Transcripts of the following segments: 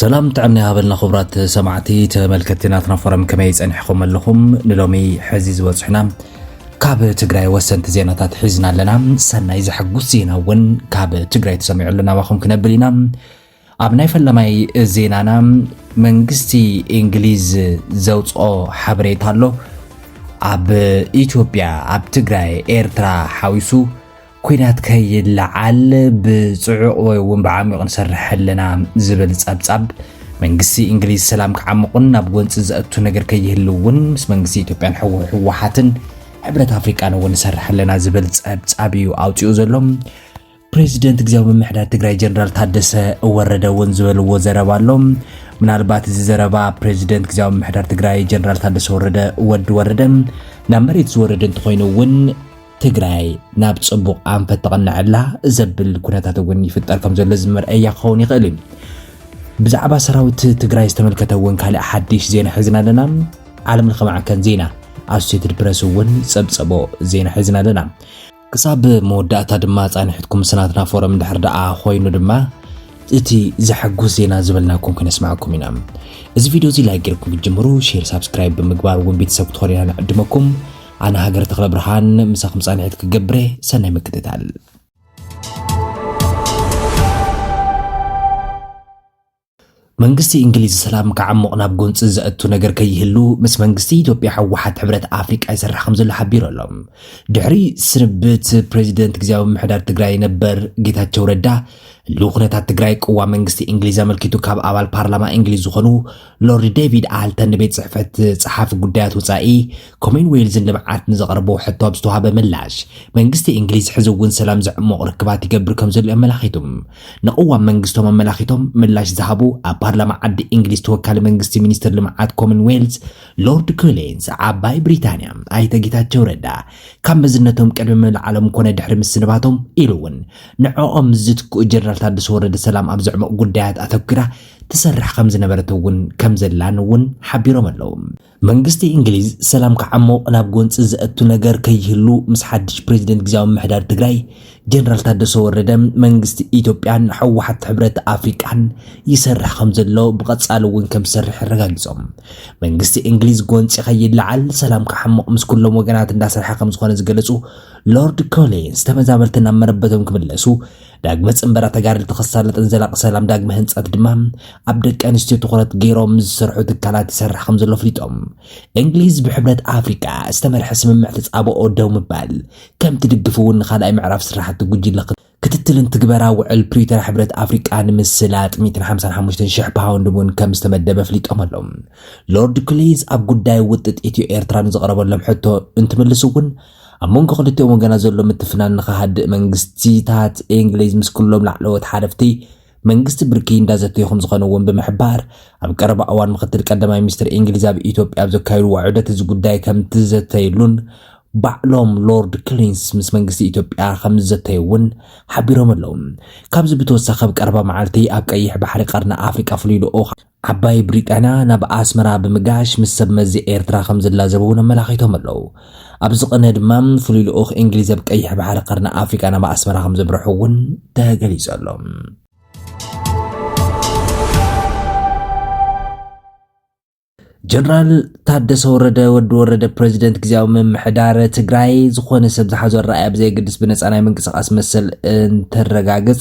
ሰላም ጥዕም ናይሃበልና ክብራት ሰማዕቲ ተመልከቲ ናትና ፎረም ከመይ ጸኒሕኹም ኣለኹም ንሎሚ ሕዚ ዝበጽሑና ካብ ትግራይ ወሰንቲ ዜናታት ሒዝና ኣለና ሰናይ ዘሐጉስ ዜና እውን ካብ ትግራይ ተሰሚዑ ኣለና ባኹም ክነብል ኢና ኣብ ናይ ፈለማይ ዜናና መንግስቲ እንግሊዝ ዘውፅኦ ሓበሬታ ኣሎ ኣብ ኢትዮጵያ ኣብ ትግራይ ኤርትራ ሓዊሱ ኩናት ከይለዓል ብፅዑቕ ወይ እውን ብዓሚቕ ንሰርሕ ኣለና ዝብል ፀብፃብ መንግስቲ እንግሊዝ ሰላም ክዓምቑን ናብ ጎንፂ ዘእቱ ነገር ከይህሉ እውን ምስ መንግስቲ ኢትዮጵያን ህወሓትን ሕብረት ኣፍሪቃን እውን ንሰርሕ ኣለና ዝብል ፀብፃብ እዩ ኣውፂኡ ዘሎ ፕሬዚደንት ግዜያዊ ምምሕዳር ትግራይ ጀነራል ታደሰ ወረደ እውን ዝበልዎ ዘረባ ኣሎ። ምናልባት እዚ ዘረባ ፕሬዚደንት ግዜያዊ ምምሕዳር ትግራይ ጀነራል ታደሰ ወረደ ወዲ ወረደ ናብ መሬት ዝወረደ እንተኾይኑ እውን ትግራይ ናብ ፅቡቕ ኣንፈት ተቐንዐላ ዘብል ኩነታት እውን ይፍጠር ከም ዘሎ ዝመርአያ ክኸውን ይኽእል እዩ። ብዛዕባ ሰራዊት ትግራይ ዝተመልከተ እውን ካልእ ሓድሽ ዜና ሒዝና ኣለና። ዓለም ለኸ ማዕከን ዜና ኣሶሴትድ ፕረስ እውን ፀብፀቦ ዜና ሒዝና ኣለና። ክሳብ መወዳእታ ድማ ጻኒሕትኩም ምስ ናትና ፎረም ድሕር ደኣ ኮይኑ ድማ እቲ ዘሐጉስ ዜና ዝበልናኩም ክነስማዓኩም ኢና። እዚ ቪድዮ እዚ ላይክ ጌርኩም ክትጅምሩ ሼር ሳብስክራይብ ብምግባር እውን ቤተሰብ ክትኾኑ ኢና ንዕድመኩም። ኣነ ሃገር ተኽለ ብርሃን ምሳኹም ጻኒሕት ክገብረ ሰናይ ምክትታል። መንግስቲ እንግሊዝ ሰላም ክዓሙቕ ናብ ጎንፂ ዘእቱ ነገር ከይህሉ ምስ መንግስቲ ኢትዮጵያ ህወሓት ሕብረት ኣፍሪቃ ይሰርሕ ከም ዘሎ ሓቢሩ ኣሎ። ድሕሪ ስንብት ፕሬዚደንት ግዜያዊ ምምሕዳር ትግራይ ነበር ጌታቸው ረዳ ህልው ኩነታት ትግራይ ቅዋም መንግስቲ እንግሊዝ ኣመልኪቱ ካብ ኣባል ፓርላማ እንግሊዝ ዝኾኑ ሎርድ ዴቪድ ኣልተን ንቤት ፅሕፈት ፀሓፊ ጉዳያት ወፃኢ ኮሜን ዌልዝን ልምዓት ንዘቕረቦ ሕቶ ኣብ ዝተዋሃበ ምላሽ መንግስቲ እንግሊዝ ሕዚ እውን ሰላም ዘዕሞቕ ርክባት ይገብር ከም ዘሎ ኣመላኺቱ ንቕዋም መንግስቶም ኣመላኺቶም ምላሽ ዝሃቡ ኣብ ፓርላማ ዓዲ እንግሊዝ ተወካሊ መንግስቲ ሚኒስትር ልምዓት ኮመን ዌልዝ ሎርድ ኮሊንስ ዓባይ ብሪታንያ ኣይተ ጌታቸው ረዳ ካብ መዝነቶም ቅድሚ ምልዓሎም ኮነ ድሕሪ ምስንባቶም ኢሉ እውን ንዕኦም ምስ ዝትክኡ ጀነራል ታደሰ ወረደ ሰላም ኣብ ዘዕምቕ ጉዳያት ኣተኲራ ትሰርሕ ከም ዝነበረት እውን ከም ዘላን እውን ሓቢሮም ኣለዉ። መንግስቲ እንግሊዝ ሰላም ክዓሞቕ ናብ ጎንፂ ዘእቱ ነገር ከይህሉ ምስ ሓድሽ ፕሬዚደንት ግዜያዊ ምሕዳር ትግራይ ጀነራል ታደሰ ወረደ መንግስቲ ኢትዮጵያን ሕወሓት ሕብረት ኣፍሪቃን ይሰርሕ ከም ዘሎ ብቐጻሊ እውን ከም ዝሰርሕ ኣረጋጊጾም። መንግስቲ እንግሊዝ ጎንፂ ከይለዓል ሰላም ክዓሞቕ ምስ ኩሎም ወገናት እንዳሰርሐ ከም ዝኾነ ዝገለጹ ሎርድ ኮሊንስ ተመዛበልቲ ናብ መረበቶም ክምለሱ ዳግመ ፅንበራ ተጋደልቲ ክሳለጥን ዘላቂ ሰላም ዳግመ ህንፀት ድማ ኣብ ደቂ ኣንስትዮ ትኩረት ገይሮም ዝሰርሑ ትካላት ይሰርሕ ከም ዘሎ ኣፍሊጦም እንግሊዝ ብሕብረት ኣፍሪቃ ዝተመርሐ ስምምዕ ተፃብኦ ደው ምባል ከም ትድግፍ እውን ንካልኣይ ምዕራፍ ስራሕቲ ጉጅለ ክትትልን ትግበራ ውዕል ፕሪቶሪያ ሕብረት ኣፍሪቃ ንምስላጥ 155 ሽሕ ፓውንድ እውን ከም ዝተመደበ ኣፍሊጦም ኣሎም ሎርድ ክሊዝ ኣብ ጉዳይ ውጥጥ ኢትዮ ኤርትራ ንዝቐረበሎም ሕቶ እንትምልሱ እውን ኣብ መንጎ ክልቲኦም ወገናት ዘሎ ምትፍናን ንክሃድእ መንግስቲታት እንግሊዝ ምስ ኩሎም ላዕለዎት ሓለፍቲ መንግስቲ ብርኪ እንዳዘተዩ ከምዝኾነ እውን ብምሕባር ኣብ ቀረባ እዋን ምክትል ቀዳማይ ሚኒስትር እንግሊዝ ኣብ ኢትዮጵያ ኣብ ዘካየድዎ ዑደት እዚ ጉዳይ ከምትዘተይሉን ባዕሎም ሎርድ ክሊንስ ምስ መንግስቲ ኢትዮጵያ ከም ዝዘተዩ እውን ሓቢሮም ኣለዉ። ካብዚ ብተወሳኺ ኣብ ቀረባ መዓልቲ ኣብ ቀይሕ ባሕሪ ቀርኒ ኣፍሪቃ ፍሉይ ልኡኽ ዓባይ ብሪጣንያ ናብ ኣስመራ ብምጋሽ ምስ ሰብ መዚ ኤርትራ ከም ዝላዘቡ እውን ኣመላኺቶም ኣለዉ። ኣብዚ ቅነ ድማ ፍሉይ ልኡኽ እንግሊዝ ኣብ ቀይሕ ባሕሪ ቀርኒ ኣፍሪቃ ናብ ኣስመራ ከም ዘምርሑ እውን ተገሊጹ ኣሎ። ጀነራል ታደሰ ወረደ ወዲ ወረደ ፕሬዚደንት ግዜያዊ ምምሕዳር ትግራይ ዝኾነ ሰብ ዝሓዞ ኣረኣያ ብዘየገድስ ብነፃ ናይ ምንቅስቓስ መሰል እንትረጋግፅ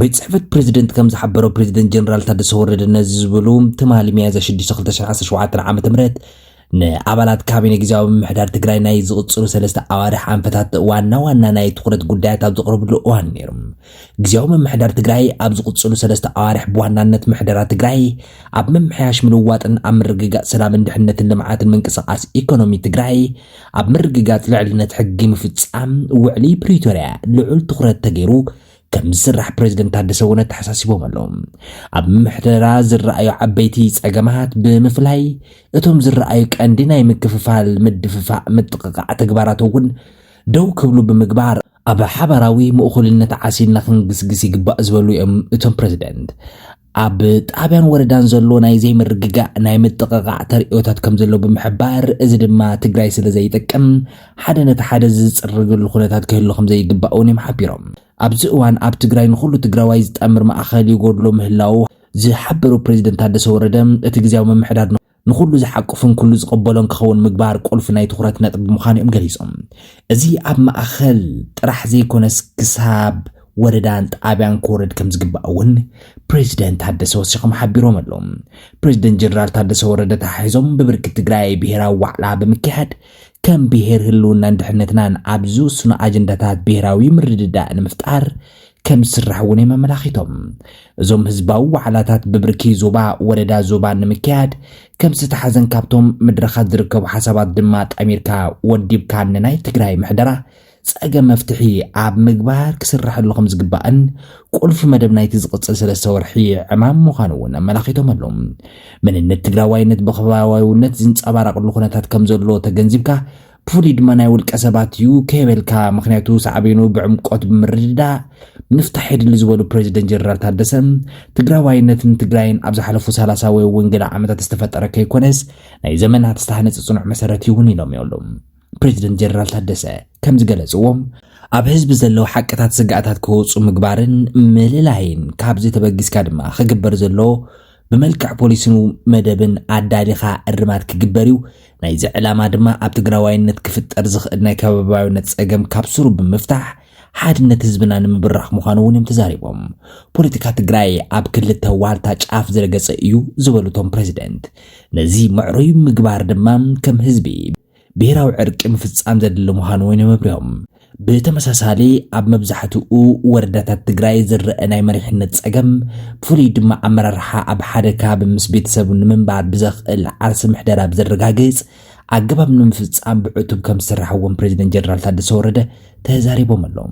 ቤት ጽሕፈት ፕረዚደንት ከም ዝሓበሮ ፕረዚደንት ጀነራል ታደሰ ወረደ ነዚ ዝብሉ ትማሊ ሚያዝያ 6 2017 ዓ ም ንኣባላት ካቢነ ግዜያዊ ምምሕዳር ትግራይ ናይ ዝቕፅሉ ሰለስተ ኣዋርሕ ኣንፈታት ዋና ዋና ናይ ትኹረት ጉዳያት ኣብ ዘቕርብሉ እዋን ነይሩ። ግዜያዊ ምምሕዳር ትግራይ ኣብ ዝቕፅሉ ሰለስተ ኣዋርሕ ብዋናነት ምሕደራ ትግራይ ኣብ ምምሕያሽ ምልዋጥን ኣብ ምርግጋፅ ሰላምን ድሕነትን ልምዓትን ምንቅስቓስ ኢኮኖሚ ትግራይ ኣብ ምርግጋፅ ልዕልነት ሕጊ ምፍፃም ውዕሊ ፕሪቶርያ ልዑል ትኹረት ተገይሩ ከምዝስራሕ ፕሬዝደንት ታደሰ እውን ኣተሓሳሲቦም ኣለዉ። ኣብ ምምሕደራ ዝረኣዩ ዓበይቲ ጸገማት ብምፍላይ እቶም ዝረኣዩ ቀንዲ ናይ ምክፍፋል፣ ምድፍፋእ፣ ምጥቕቓዕ ተግባራት እውን ደው ክብሉ ብምግባር ኣብ ሓባራዊ ምእኹልነት ዓሲልና ክንግስግስ ይግባእ ዝበሉ እዮም እቶም ፕሬዝደንት። ኣብ ጣብያን ወረዳን ዘሎ ናይ ዘይምርግጋእ ናይ ምጥቕቓዕ ተርእዮታት ከም ዘሎ ብምሕባር እዚ ድማ ትግራይ ስለ ዘይጠቅም ሓደ ነቲ ሓደ ዝፅርግሉ ኩነታት ክህሉ ከም ዘይግባእ እውን እዮም ሓቢሮም። ኣብዚ እዋን ኣብ ትግራይ ንኹሉ ትግራዋይ ዝጠምር ማእኸል ይጎድሎ ምህላዉ ዝሓበሩ ፕሬዚደንት ታደሰ ወረደ እቲ ግዝያዊ ምምሕዳር ንኹሉ ዝሓቁፍን ኩሉ ዝቕበሎን ክኸውን ምግባር ቁልፊ ናይ ትኹረት ነጥቢ ምዃኑ እዮም ገሊፆም። እዚ ኣብ ማእኸል ጥራሕ ዘይኮነስ ክሳብ ወረዳን ጣብያን ክወርድ ከምዝግባእ እውን ፕሬዚደንት ታደሰ ወሲኾም ሓቢሮም ኣለው። ፕሬዚደንት ጀነራል ታደሰ ወረደ ተሓሒዞም ብብርኪ ትግራይ ብሄራዊ ዋዕላ ብምክያድ ከም ብሄር ህልውናን ድሕነትናን ኣብ ዝውስኑ ኣጀንዳታት ብሄራዊ ምርድዳእ ንምፍጣር ከምዝስራሕ እውን እዮም ኣመላኺቶም። እዞም ህዝባዊ ዋዕላታት ብብርኪ ዞባ፣ ወረዳ፣ ዞባን ንምክያድ ከምዝተሓዘን ካብቶም ምድረኻት ዝርከቡ ሓሳባት ድማ ጠሚርካ ወዲብካ ንናይ ትግራይ ምሕደራ ፀገም መፍትሒ ኣብ ምግባር ክስረሐሉ ከምዝግባእን ቁልፊ መደብ ናይቲ ዝቕፅል ሰለስተ ወርሒ ዕማም ምዃኑ እውን ኣመላኺቶም ኣሎ። መንነት ትግራዋይነት ብኸባቢያዊነት ዝንፀባረቐሉ ኩነታት ከምዘሎ ተገንዚብካ ብፍሉይ ድማ ናይ ውልቀ ሰባት እዩ ከይበልካ ምክንያቱ ሳዕቤኑ ብዕምቆት ብምርድዳእ ምፍታሕ የድሊ ዝበሉ ፕሬዚደንት ጀነራል ታደሰ ትግራዋይነትን ትግራይን ኣብ ዝሓለፉ ሰላሳ ወይ እውን ገለ ዓመታት ዝተፈጠረ ከይኮነስ ናይ ዘመናት ዝተሃነፀ ፅኑዕ መሰረት ይውን ኢሎም ይብሉ ፕሬዚደንት ጀነራል ታደሰ ከም ዝገለፅዎ ኣብ ህዝቢ ዘለዉ ሓቅታት ስግኣታት ክወፁ ምግባርን ምልላይን ካብዚ ተበጊስካ ድማ ክግበር ዘሎ ብመልክዕ ፖሊሲን መደብን ኣዳሊኻ እርማት ክግበር እዩ። ናይዚ ዕላማ ድማ ኣብ ትግራዋይነት ክፍጠር ዝኽእል ናይ ከባብያዊነት ፀገም ካብ ሱሩ ብምፍታሕ ሓድነት ህዝብና ንምብራኽ ምዃኑ እውን እዮም ተዛሪቦም። ፖለቲካ ትግራይ ኣብ ክልተ ዋልታ ጫፍ ዝረገፀ እዩ ዝበሉ እቶም ፕሬዚደንት፣ ነዚ ምዕሩይ ምግባር ድማ ከም ህዝቢ፣ ብሄራዊ ዕርቂ ምፍፃም ዘድሊ ምዃኑ እውን የመብርሆም። ብተመሳሳሊ ኣብ መብዛሕትኡ ወረዳታት ትግራይ ዝረአ ናይ መሪሕነት ፀገም ብፍሉይ ድማ ኣመራርሓ ኣብ ሓደ ከባቢ ምስ ቤተሰቡ ንምንባር ብዘኽእል ዓርሲ ምሕደራ ብዘረጋግፅ ኣገባብ ንምፍፃም ብዕቱብ ከም ዝስራሕ እውን ፕሬዚደንት ጀነራል ታደሰ ወረደ ተዛሪቦም ኣለው።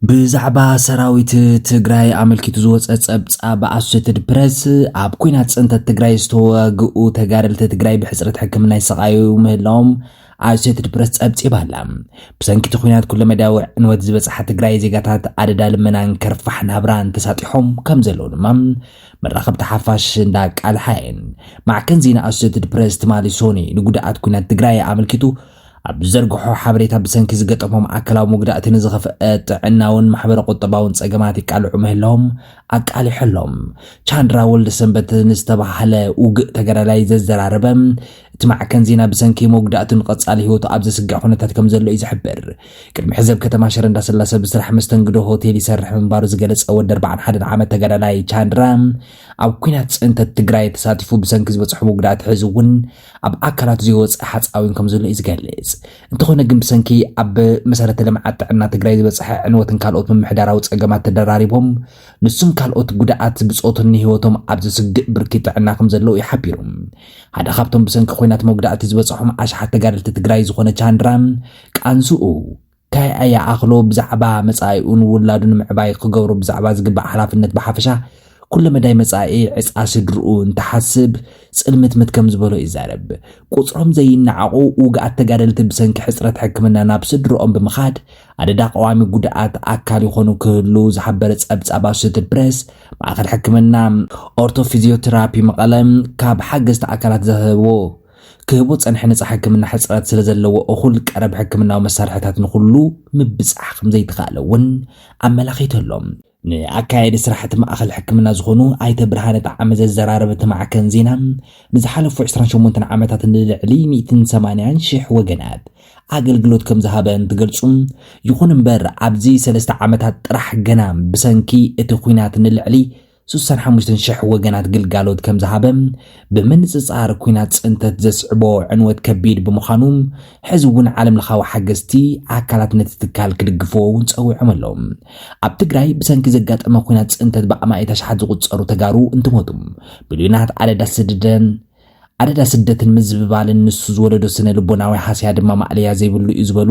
ብዛዕባ ሰራዊት ትግራይ ኣመልኪቱ ዝወፀ ፀብፃብ ኣሶሴትድ ፕረስ ኣብ ኩናት ፅንተት ትግራይ ዝተዋግኡ ተጋደልቲ ትግራይ ብሕፅረት ሕክምና ይሰቃዩ ምህላዎም ኣሶሴትድ ፕረስ ጸብጺባ ኣላ ብሰንኪ እቲ ኩናት ኩለ መዳያዊ ዕንወት ዝበፅሓ ትግራይ ዜጋታት ኣደዳ ልመናን ከርፋሕ ናብራን ተሳጢሖም ከም ዘለዉ ድማ መራኸብቲ ሓፋሽ እንዳቃልሓ እየን ማዕከን ዜና ኣሶሴትድ ፕረስ ትማሊ ሶኒ ንጉድኣት ኩናት ትግራይ ኣመልኪቱ ኣብ ዝዘርግሖ ሓበሬታ ብሰንኪ ዝገጠሞም ኣካላዊ መጉዳእቲ ንዝኸፍአ ጥዕናውን ማሕበረ ቁጠባውን ጸገማት ይቃልዑ ምህላዎም ኣቃሊሖሎም። ቻንድራ ወልደሰንበት ንዝተባህለ ውግእ ተጋዳላይ ዘዘራረበ እቲ ማዕከን ዜና ብሰንኪ መጉዳእቱን ቐጻሊ ህይወቱ ኣብ ዘስግዕ ኩነታት ከም ዘሎ እዩ ዝሕብር። ቅድሚ ሕዚ ኣብ ከተማ ሽረ እንዳስላሰ ብስራሕ መስተንግዶ ሆቴል ይሰርሕ ምንባሩ ዝገለጸ ወዲ ኣርባዓን ሓደን ዓመት ተጋዳላይ ቻንድራ ኣብ ኲናት ጽንተት ትግራይ ተሳቲፉ ብሰንኪ ዝበጽሖ መጉዳእቲ ሕዚ እውን ኣብ ኣካላቱ ዘይወፅእ ሓፃዊን ከምዘሎ እዩ ዝገልፅ። እንተኾነ ግን ብሰንኪ ኣብ መሰረተ ልምዓት ጥዕና ትግራይ ዝበፀሐ ዕንወትን ካልኦት ምምሕዳራዊ ፀገማት ተደራሪቦም ንሱን ካልኦት ጉድኣት ብፆቱን ንህይወቶም ኣብ ዘስግእ ብርኪ ጥዕና ከምዘለው እዩ ሓቢሩ። ሓደ ካብቶም ብሰንኪ ኹናት መጉዳእቲ ዝበፀሖም ኣሽሓት ተጋደልቲ ትግራይ ዝኾነ ቻንድራ ቃንዝኡ ታይ ኣይኣኽሎ ብዛዕባ መፃኢኡን ውላዱን ምዕባይ ክገብሮ ብዛዕባ ዝግባእ ሓላፍነት ብሓፈሻ ኩለመዳይ መፃኢ ዕፃ ስድርኡ እንትሓስብ ፅልምትምት ከም ዝበሎ ይዛረብ። ቁፅሮም ዘይነዓቑ ውግኣት ተጋደልቲ ብሰንኪ ሕፅረት ሕክምና ናብ ስድርኦም ብምኻድ ኣደዳ ቀዋሚ ጉድኣት ኣካል ይኾኑ ክህልው ዝሓበረ ፀብፃብ ኣሶሴትድ ፕሬስ ማእኸል ሕክምና ኦርቶፊዚዮቴራፒ መቐለ ካብ ሓገዝቲ ኣካላት ዝረኸብዎ ክህቡ ዝጸንሐ ነጻ ሕክምና ሕጽረት ስለ ዘለዎ እኹል ቀረብ ሕክምናዊ መሳርሕታት ንኹሉ ምብጻሕ ከም ዘይተኻእለ እውን ኣመላኺቱ ኣሎ። ንኣካያዲ ስራሕ እቲ ማእኸል ሕክምና ዝኾኑ ኣይተ ብርሃነ ጠዓመ ዘዘራረበ እቲ ማዕከን ዜና ንዝሓለፉ ዕስራን ሸሞንተን ዓመታት ንልዕሊ ሚእትን ሰማንያን ሽሕ ወገናት ኣገልግሎት ከም ዝሃበ እንትገልጹ ይኹን እምበር ኣብዚ ሰለስተ ዓመታት ጥራሕ ገና ብሰንኪ እቲ ኹናት ንልዕሊ ስሳን ሓሙሽተን ሽሕ ወገናት ግልጋሎት ከም ዝሃበ ብምንጽጻር ኩናት ጽንተት ዘስዕቦ ዕንወት ከቢድ ብምዃኑ ሕዚ እውን ዓለም ለኻዊ ሓገዝቲ ኣካላት ነቲ ትካል ክድግፍዎ እውን ጸዊዖም ኣለዉ። ኣብ ትግራይ ብሰንኪ ዘጋጠመ ኩናት ጽንተት ብኣማኢት ኣሽሓት ዝቑጸሩ ተጋሩ እንትሞቱ ሚልዮናት ኣደዳ ስደደን ኣደዳ ስደትን ምዝብባልን ንሱ ዝወለዶ ስነ ልቦናዊ ሃስያ ድማ ማእለያ ዘይብሉ እዩ ዝበሉ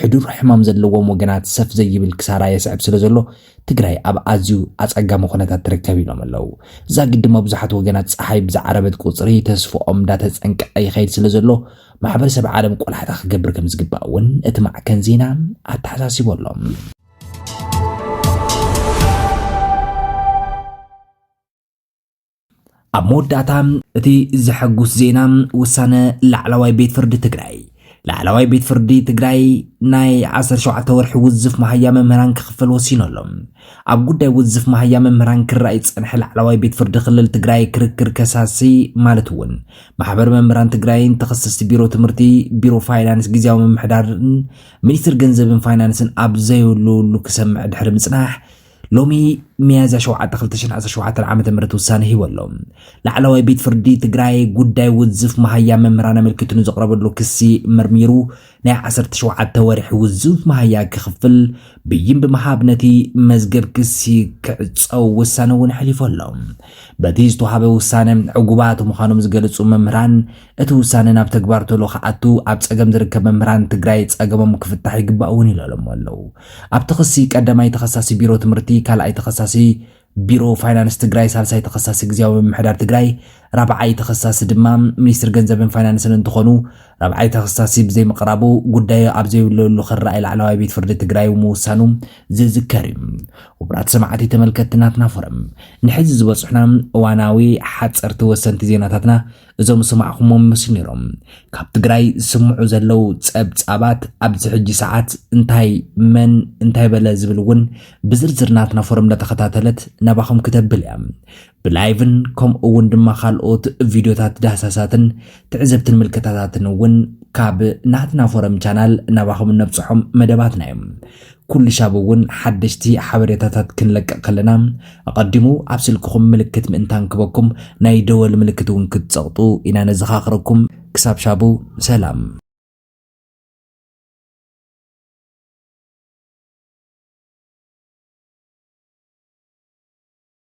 ሕዱር ሕማም ዘለዎም ወገናት ሰፍ ዘይብል ክሳራ የስዕብ ስለ ዘሎ ትግራይ ኣብ ኣዝዩ ኣጸጋሚ ኩነታት ትርከብ ኢሎም ኣለው። ዛጊድ ድማ ብዙሓት ወገናት ጸሓይ ብዝዓረበት ቁጽሪ ተስፍኦም እንዳተጸንቀቐ ይኸይድ ስለ ዘሎ ማሕበረሰብ ዓለም ቆላሕታ ክገብር ከም ዝግባእ እውን እቲ ማዕከን ዜና ኣተሓሳሲቡ ኣሎ። ኣብ መወዳእታ እቲ ዘሐጉስ ዜና ውሳነ ላዕለዋይ ቤት ፍርዲ ትግራይ ላዕለዋይ ቤት ፍርዲ ትግራይ ናይ 17 ወርሒ ውዝፍ መሃያ መምህራን ክኽፈል ወሲኑ ኣሎ ኣብ ጉዳይ ውዝፍ መሃያ መምህራን ክረኣይ ዝፀንሐ ላዕለዋይ ቤት ፍርዲ ክልል ትግራይ ክርክር ከሳሲ ማለት እውን ማሕበር መምህራን ትግራይን ተኸሰስቲ ቢሮ ትምህርቲ ቢሮ ፋይናንስ ግዜያዊ ምምሕዳርን ሚኒስትር ገንዘብን ፋይናንስን ኣብ ዘየለሉ ክሰምዕ ድሕሪ ምፅናሕ ሎሚ ሚያዝያ 7 2017 ዓ ም ውሳነ ሂቡ ኣሎ ላዕለዋይ ቤት ፍርዲ ትግራይ ጉዳይ ውዝፍ መሃያ መምህራን ኣመልኪቱ ንዘቕረበሉ ክሲ መርሚሩ ናይ 17 ወርሒ ውዝፍ መሃያ ክኽፍል ብይን ብምሃብ ነቲ መዝገብ ክሲ ክዕፀው ውሳነ እውን ኣሕሊፉ ኣሎ በቲ ዝተውሃበ ውሳነ ዕጉባት ምዃኖም ዝገልፁ መምህራን እቲ ውሳነ ናብ ተግባር ቶሎ ክኣቱ ኣብ ፀገም ዝርከብ መምህራን ትግራይ ፀገሞም ክፍታሕ ይግባእ እውን ይለለሙ ኣለው። ኣብቲ ክሲ ቀዳማይ ተኸሳሲ ቢሮ ትምህርቲ፣ ካልኣይ ተኸሳሲ ቢሮ ፋይናንስ ትግራይ፣ ሳልሳይ ተኸሳሲ ግዝያዊ ምምሕዳር ትግራይ፣ ራብዓይ ተኸሳሲ ድማ ሚኒስትር ገንዘብን ፋይናንስን እንትኾኑ ራብዓይ ተኸሳሲ ብዘይምቕራቡ ጉዳዩ ኣብ ዘይውለሉ ክረኣይ ላዕለዋይ ቤት ፍርዲ ትግራይ ምውሳኑ ዝዝከር እዩ። ክቡራት ሰማዕቲ ተመልከትቲ ናትና ፎረም ንሕዚ ዝበፅሑና እዋናዊ ሓፀርቲ ወሰንቲ ዜናታትና እዞም ዝሰማዕኹሞም ይመስሉ ነይሮም። ካብ ትግራይ ዝስምዑ ዘለው ጸብጻባት ኣብዚ ሕጂ ሰዓት እንታይ መን እንታይ በለ ዝብል እውን ብዝርዝር ናትና ፎረም እንዳተኸታተለት ናባኹም ክተብል እያ። ብላይቭን ከምኡ እውን ድማ ካልኦት ቪድዮታት ዳህሳሳትን ትዕዝብትን ምልከታታትን እውን ካብ ናትና ፎረም ቻናል ናባኹም እነብፅሖም መደባትና እዮም ኩሉ ሻብ እውን ሓደሽቲ ሓበሬታታት ክንለቅቕ ከለና ኣቐዲሙ ኣብ ስልክኹም ምልክት ምእንታን ክበኩም ናይ ደወል ምልክት እውን ክትፀቕጡ ኢና ነዘኻኽረኩም። ክሳብ ሻቡ ሰላም።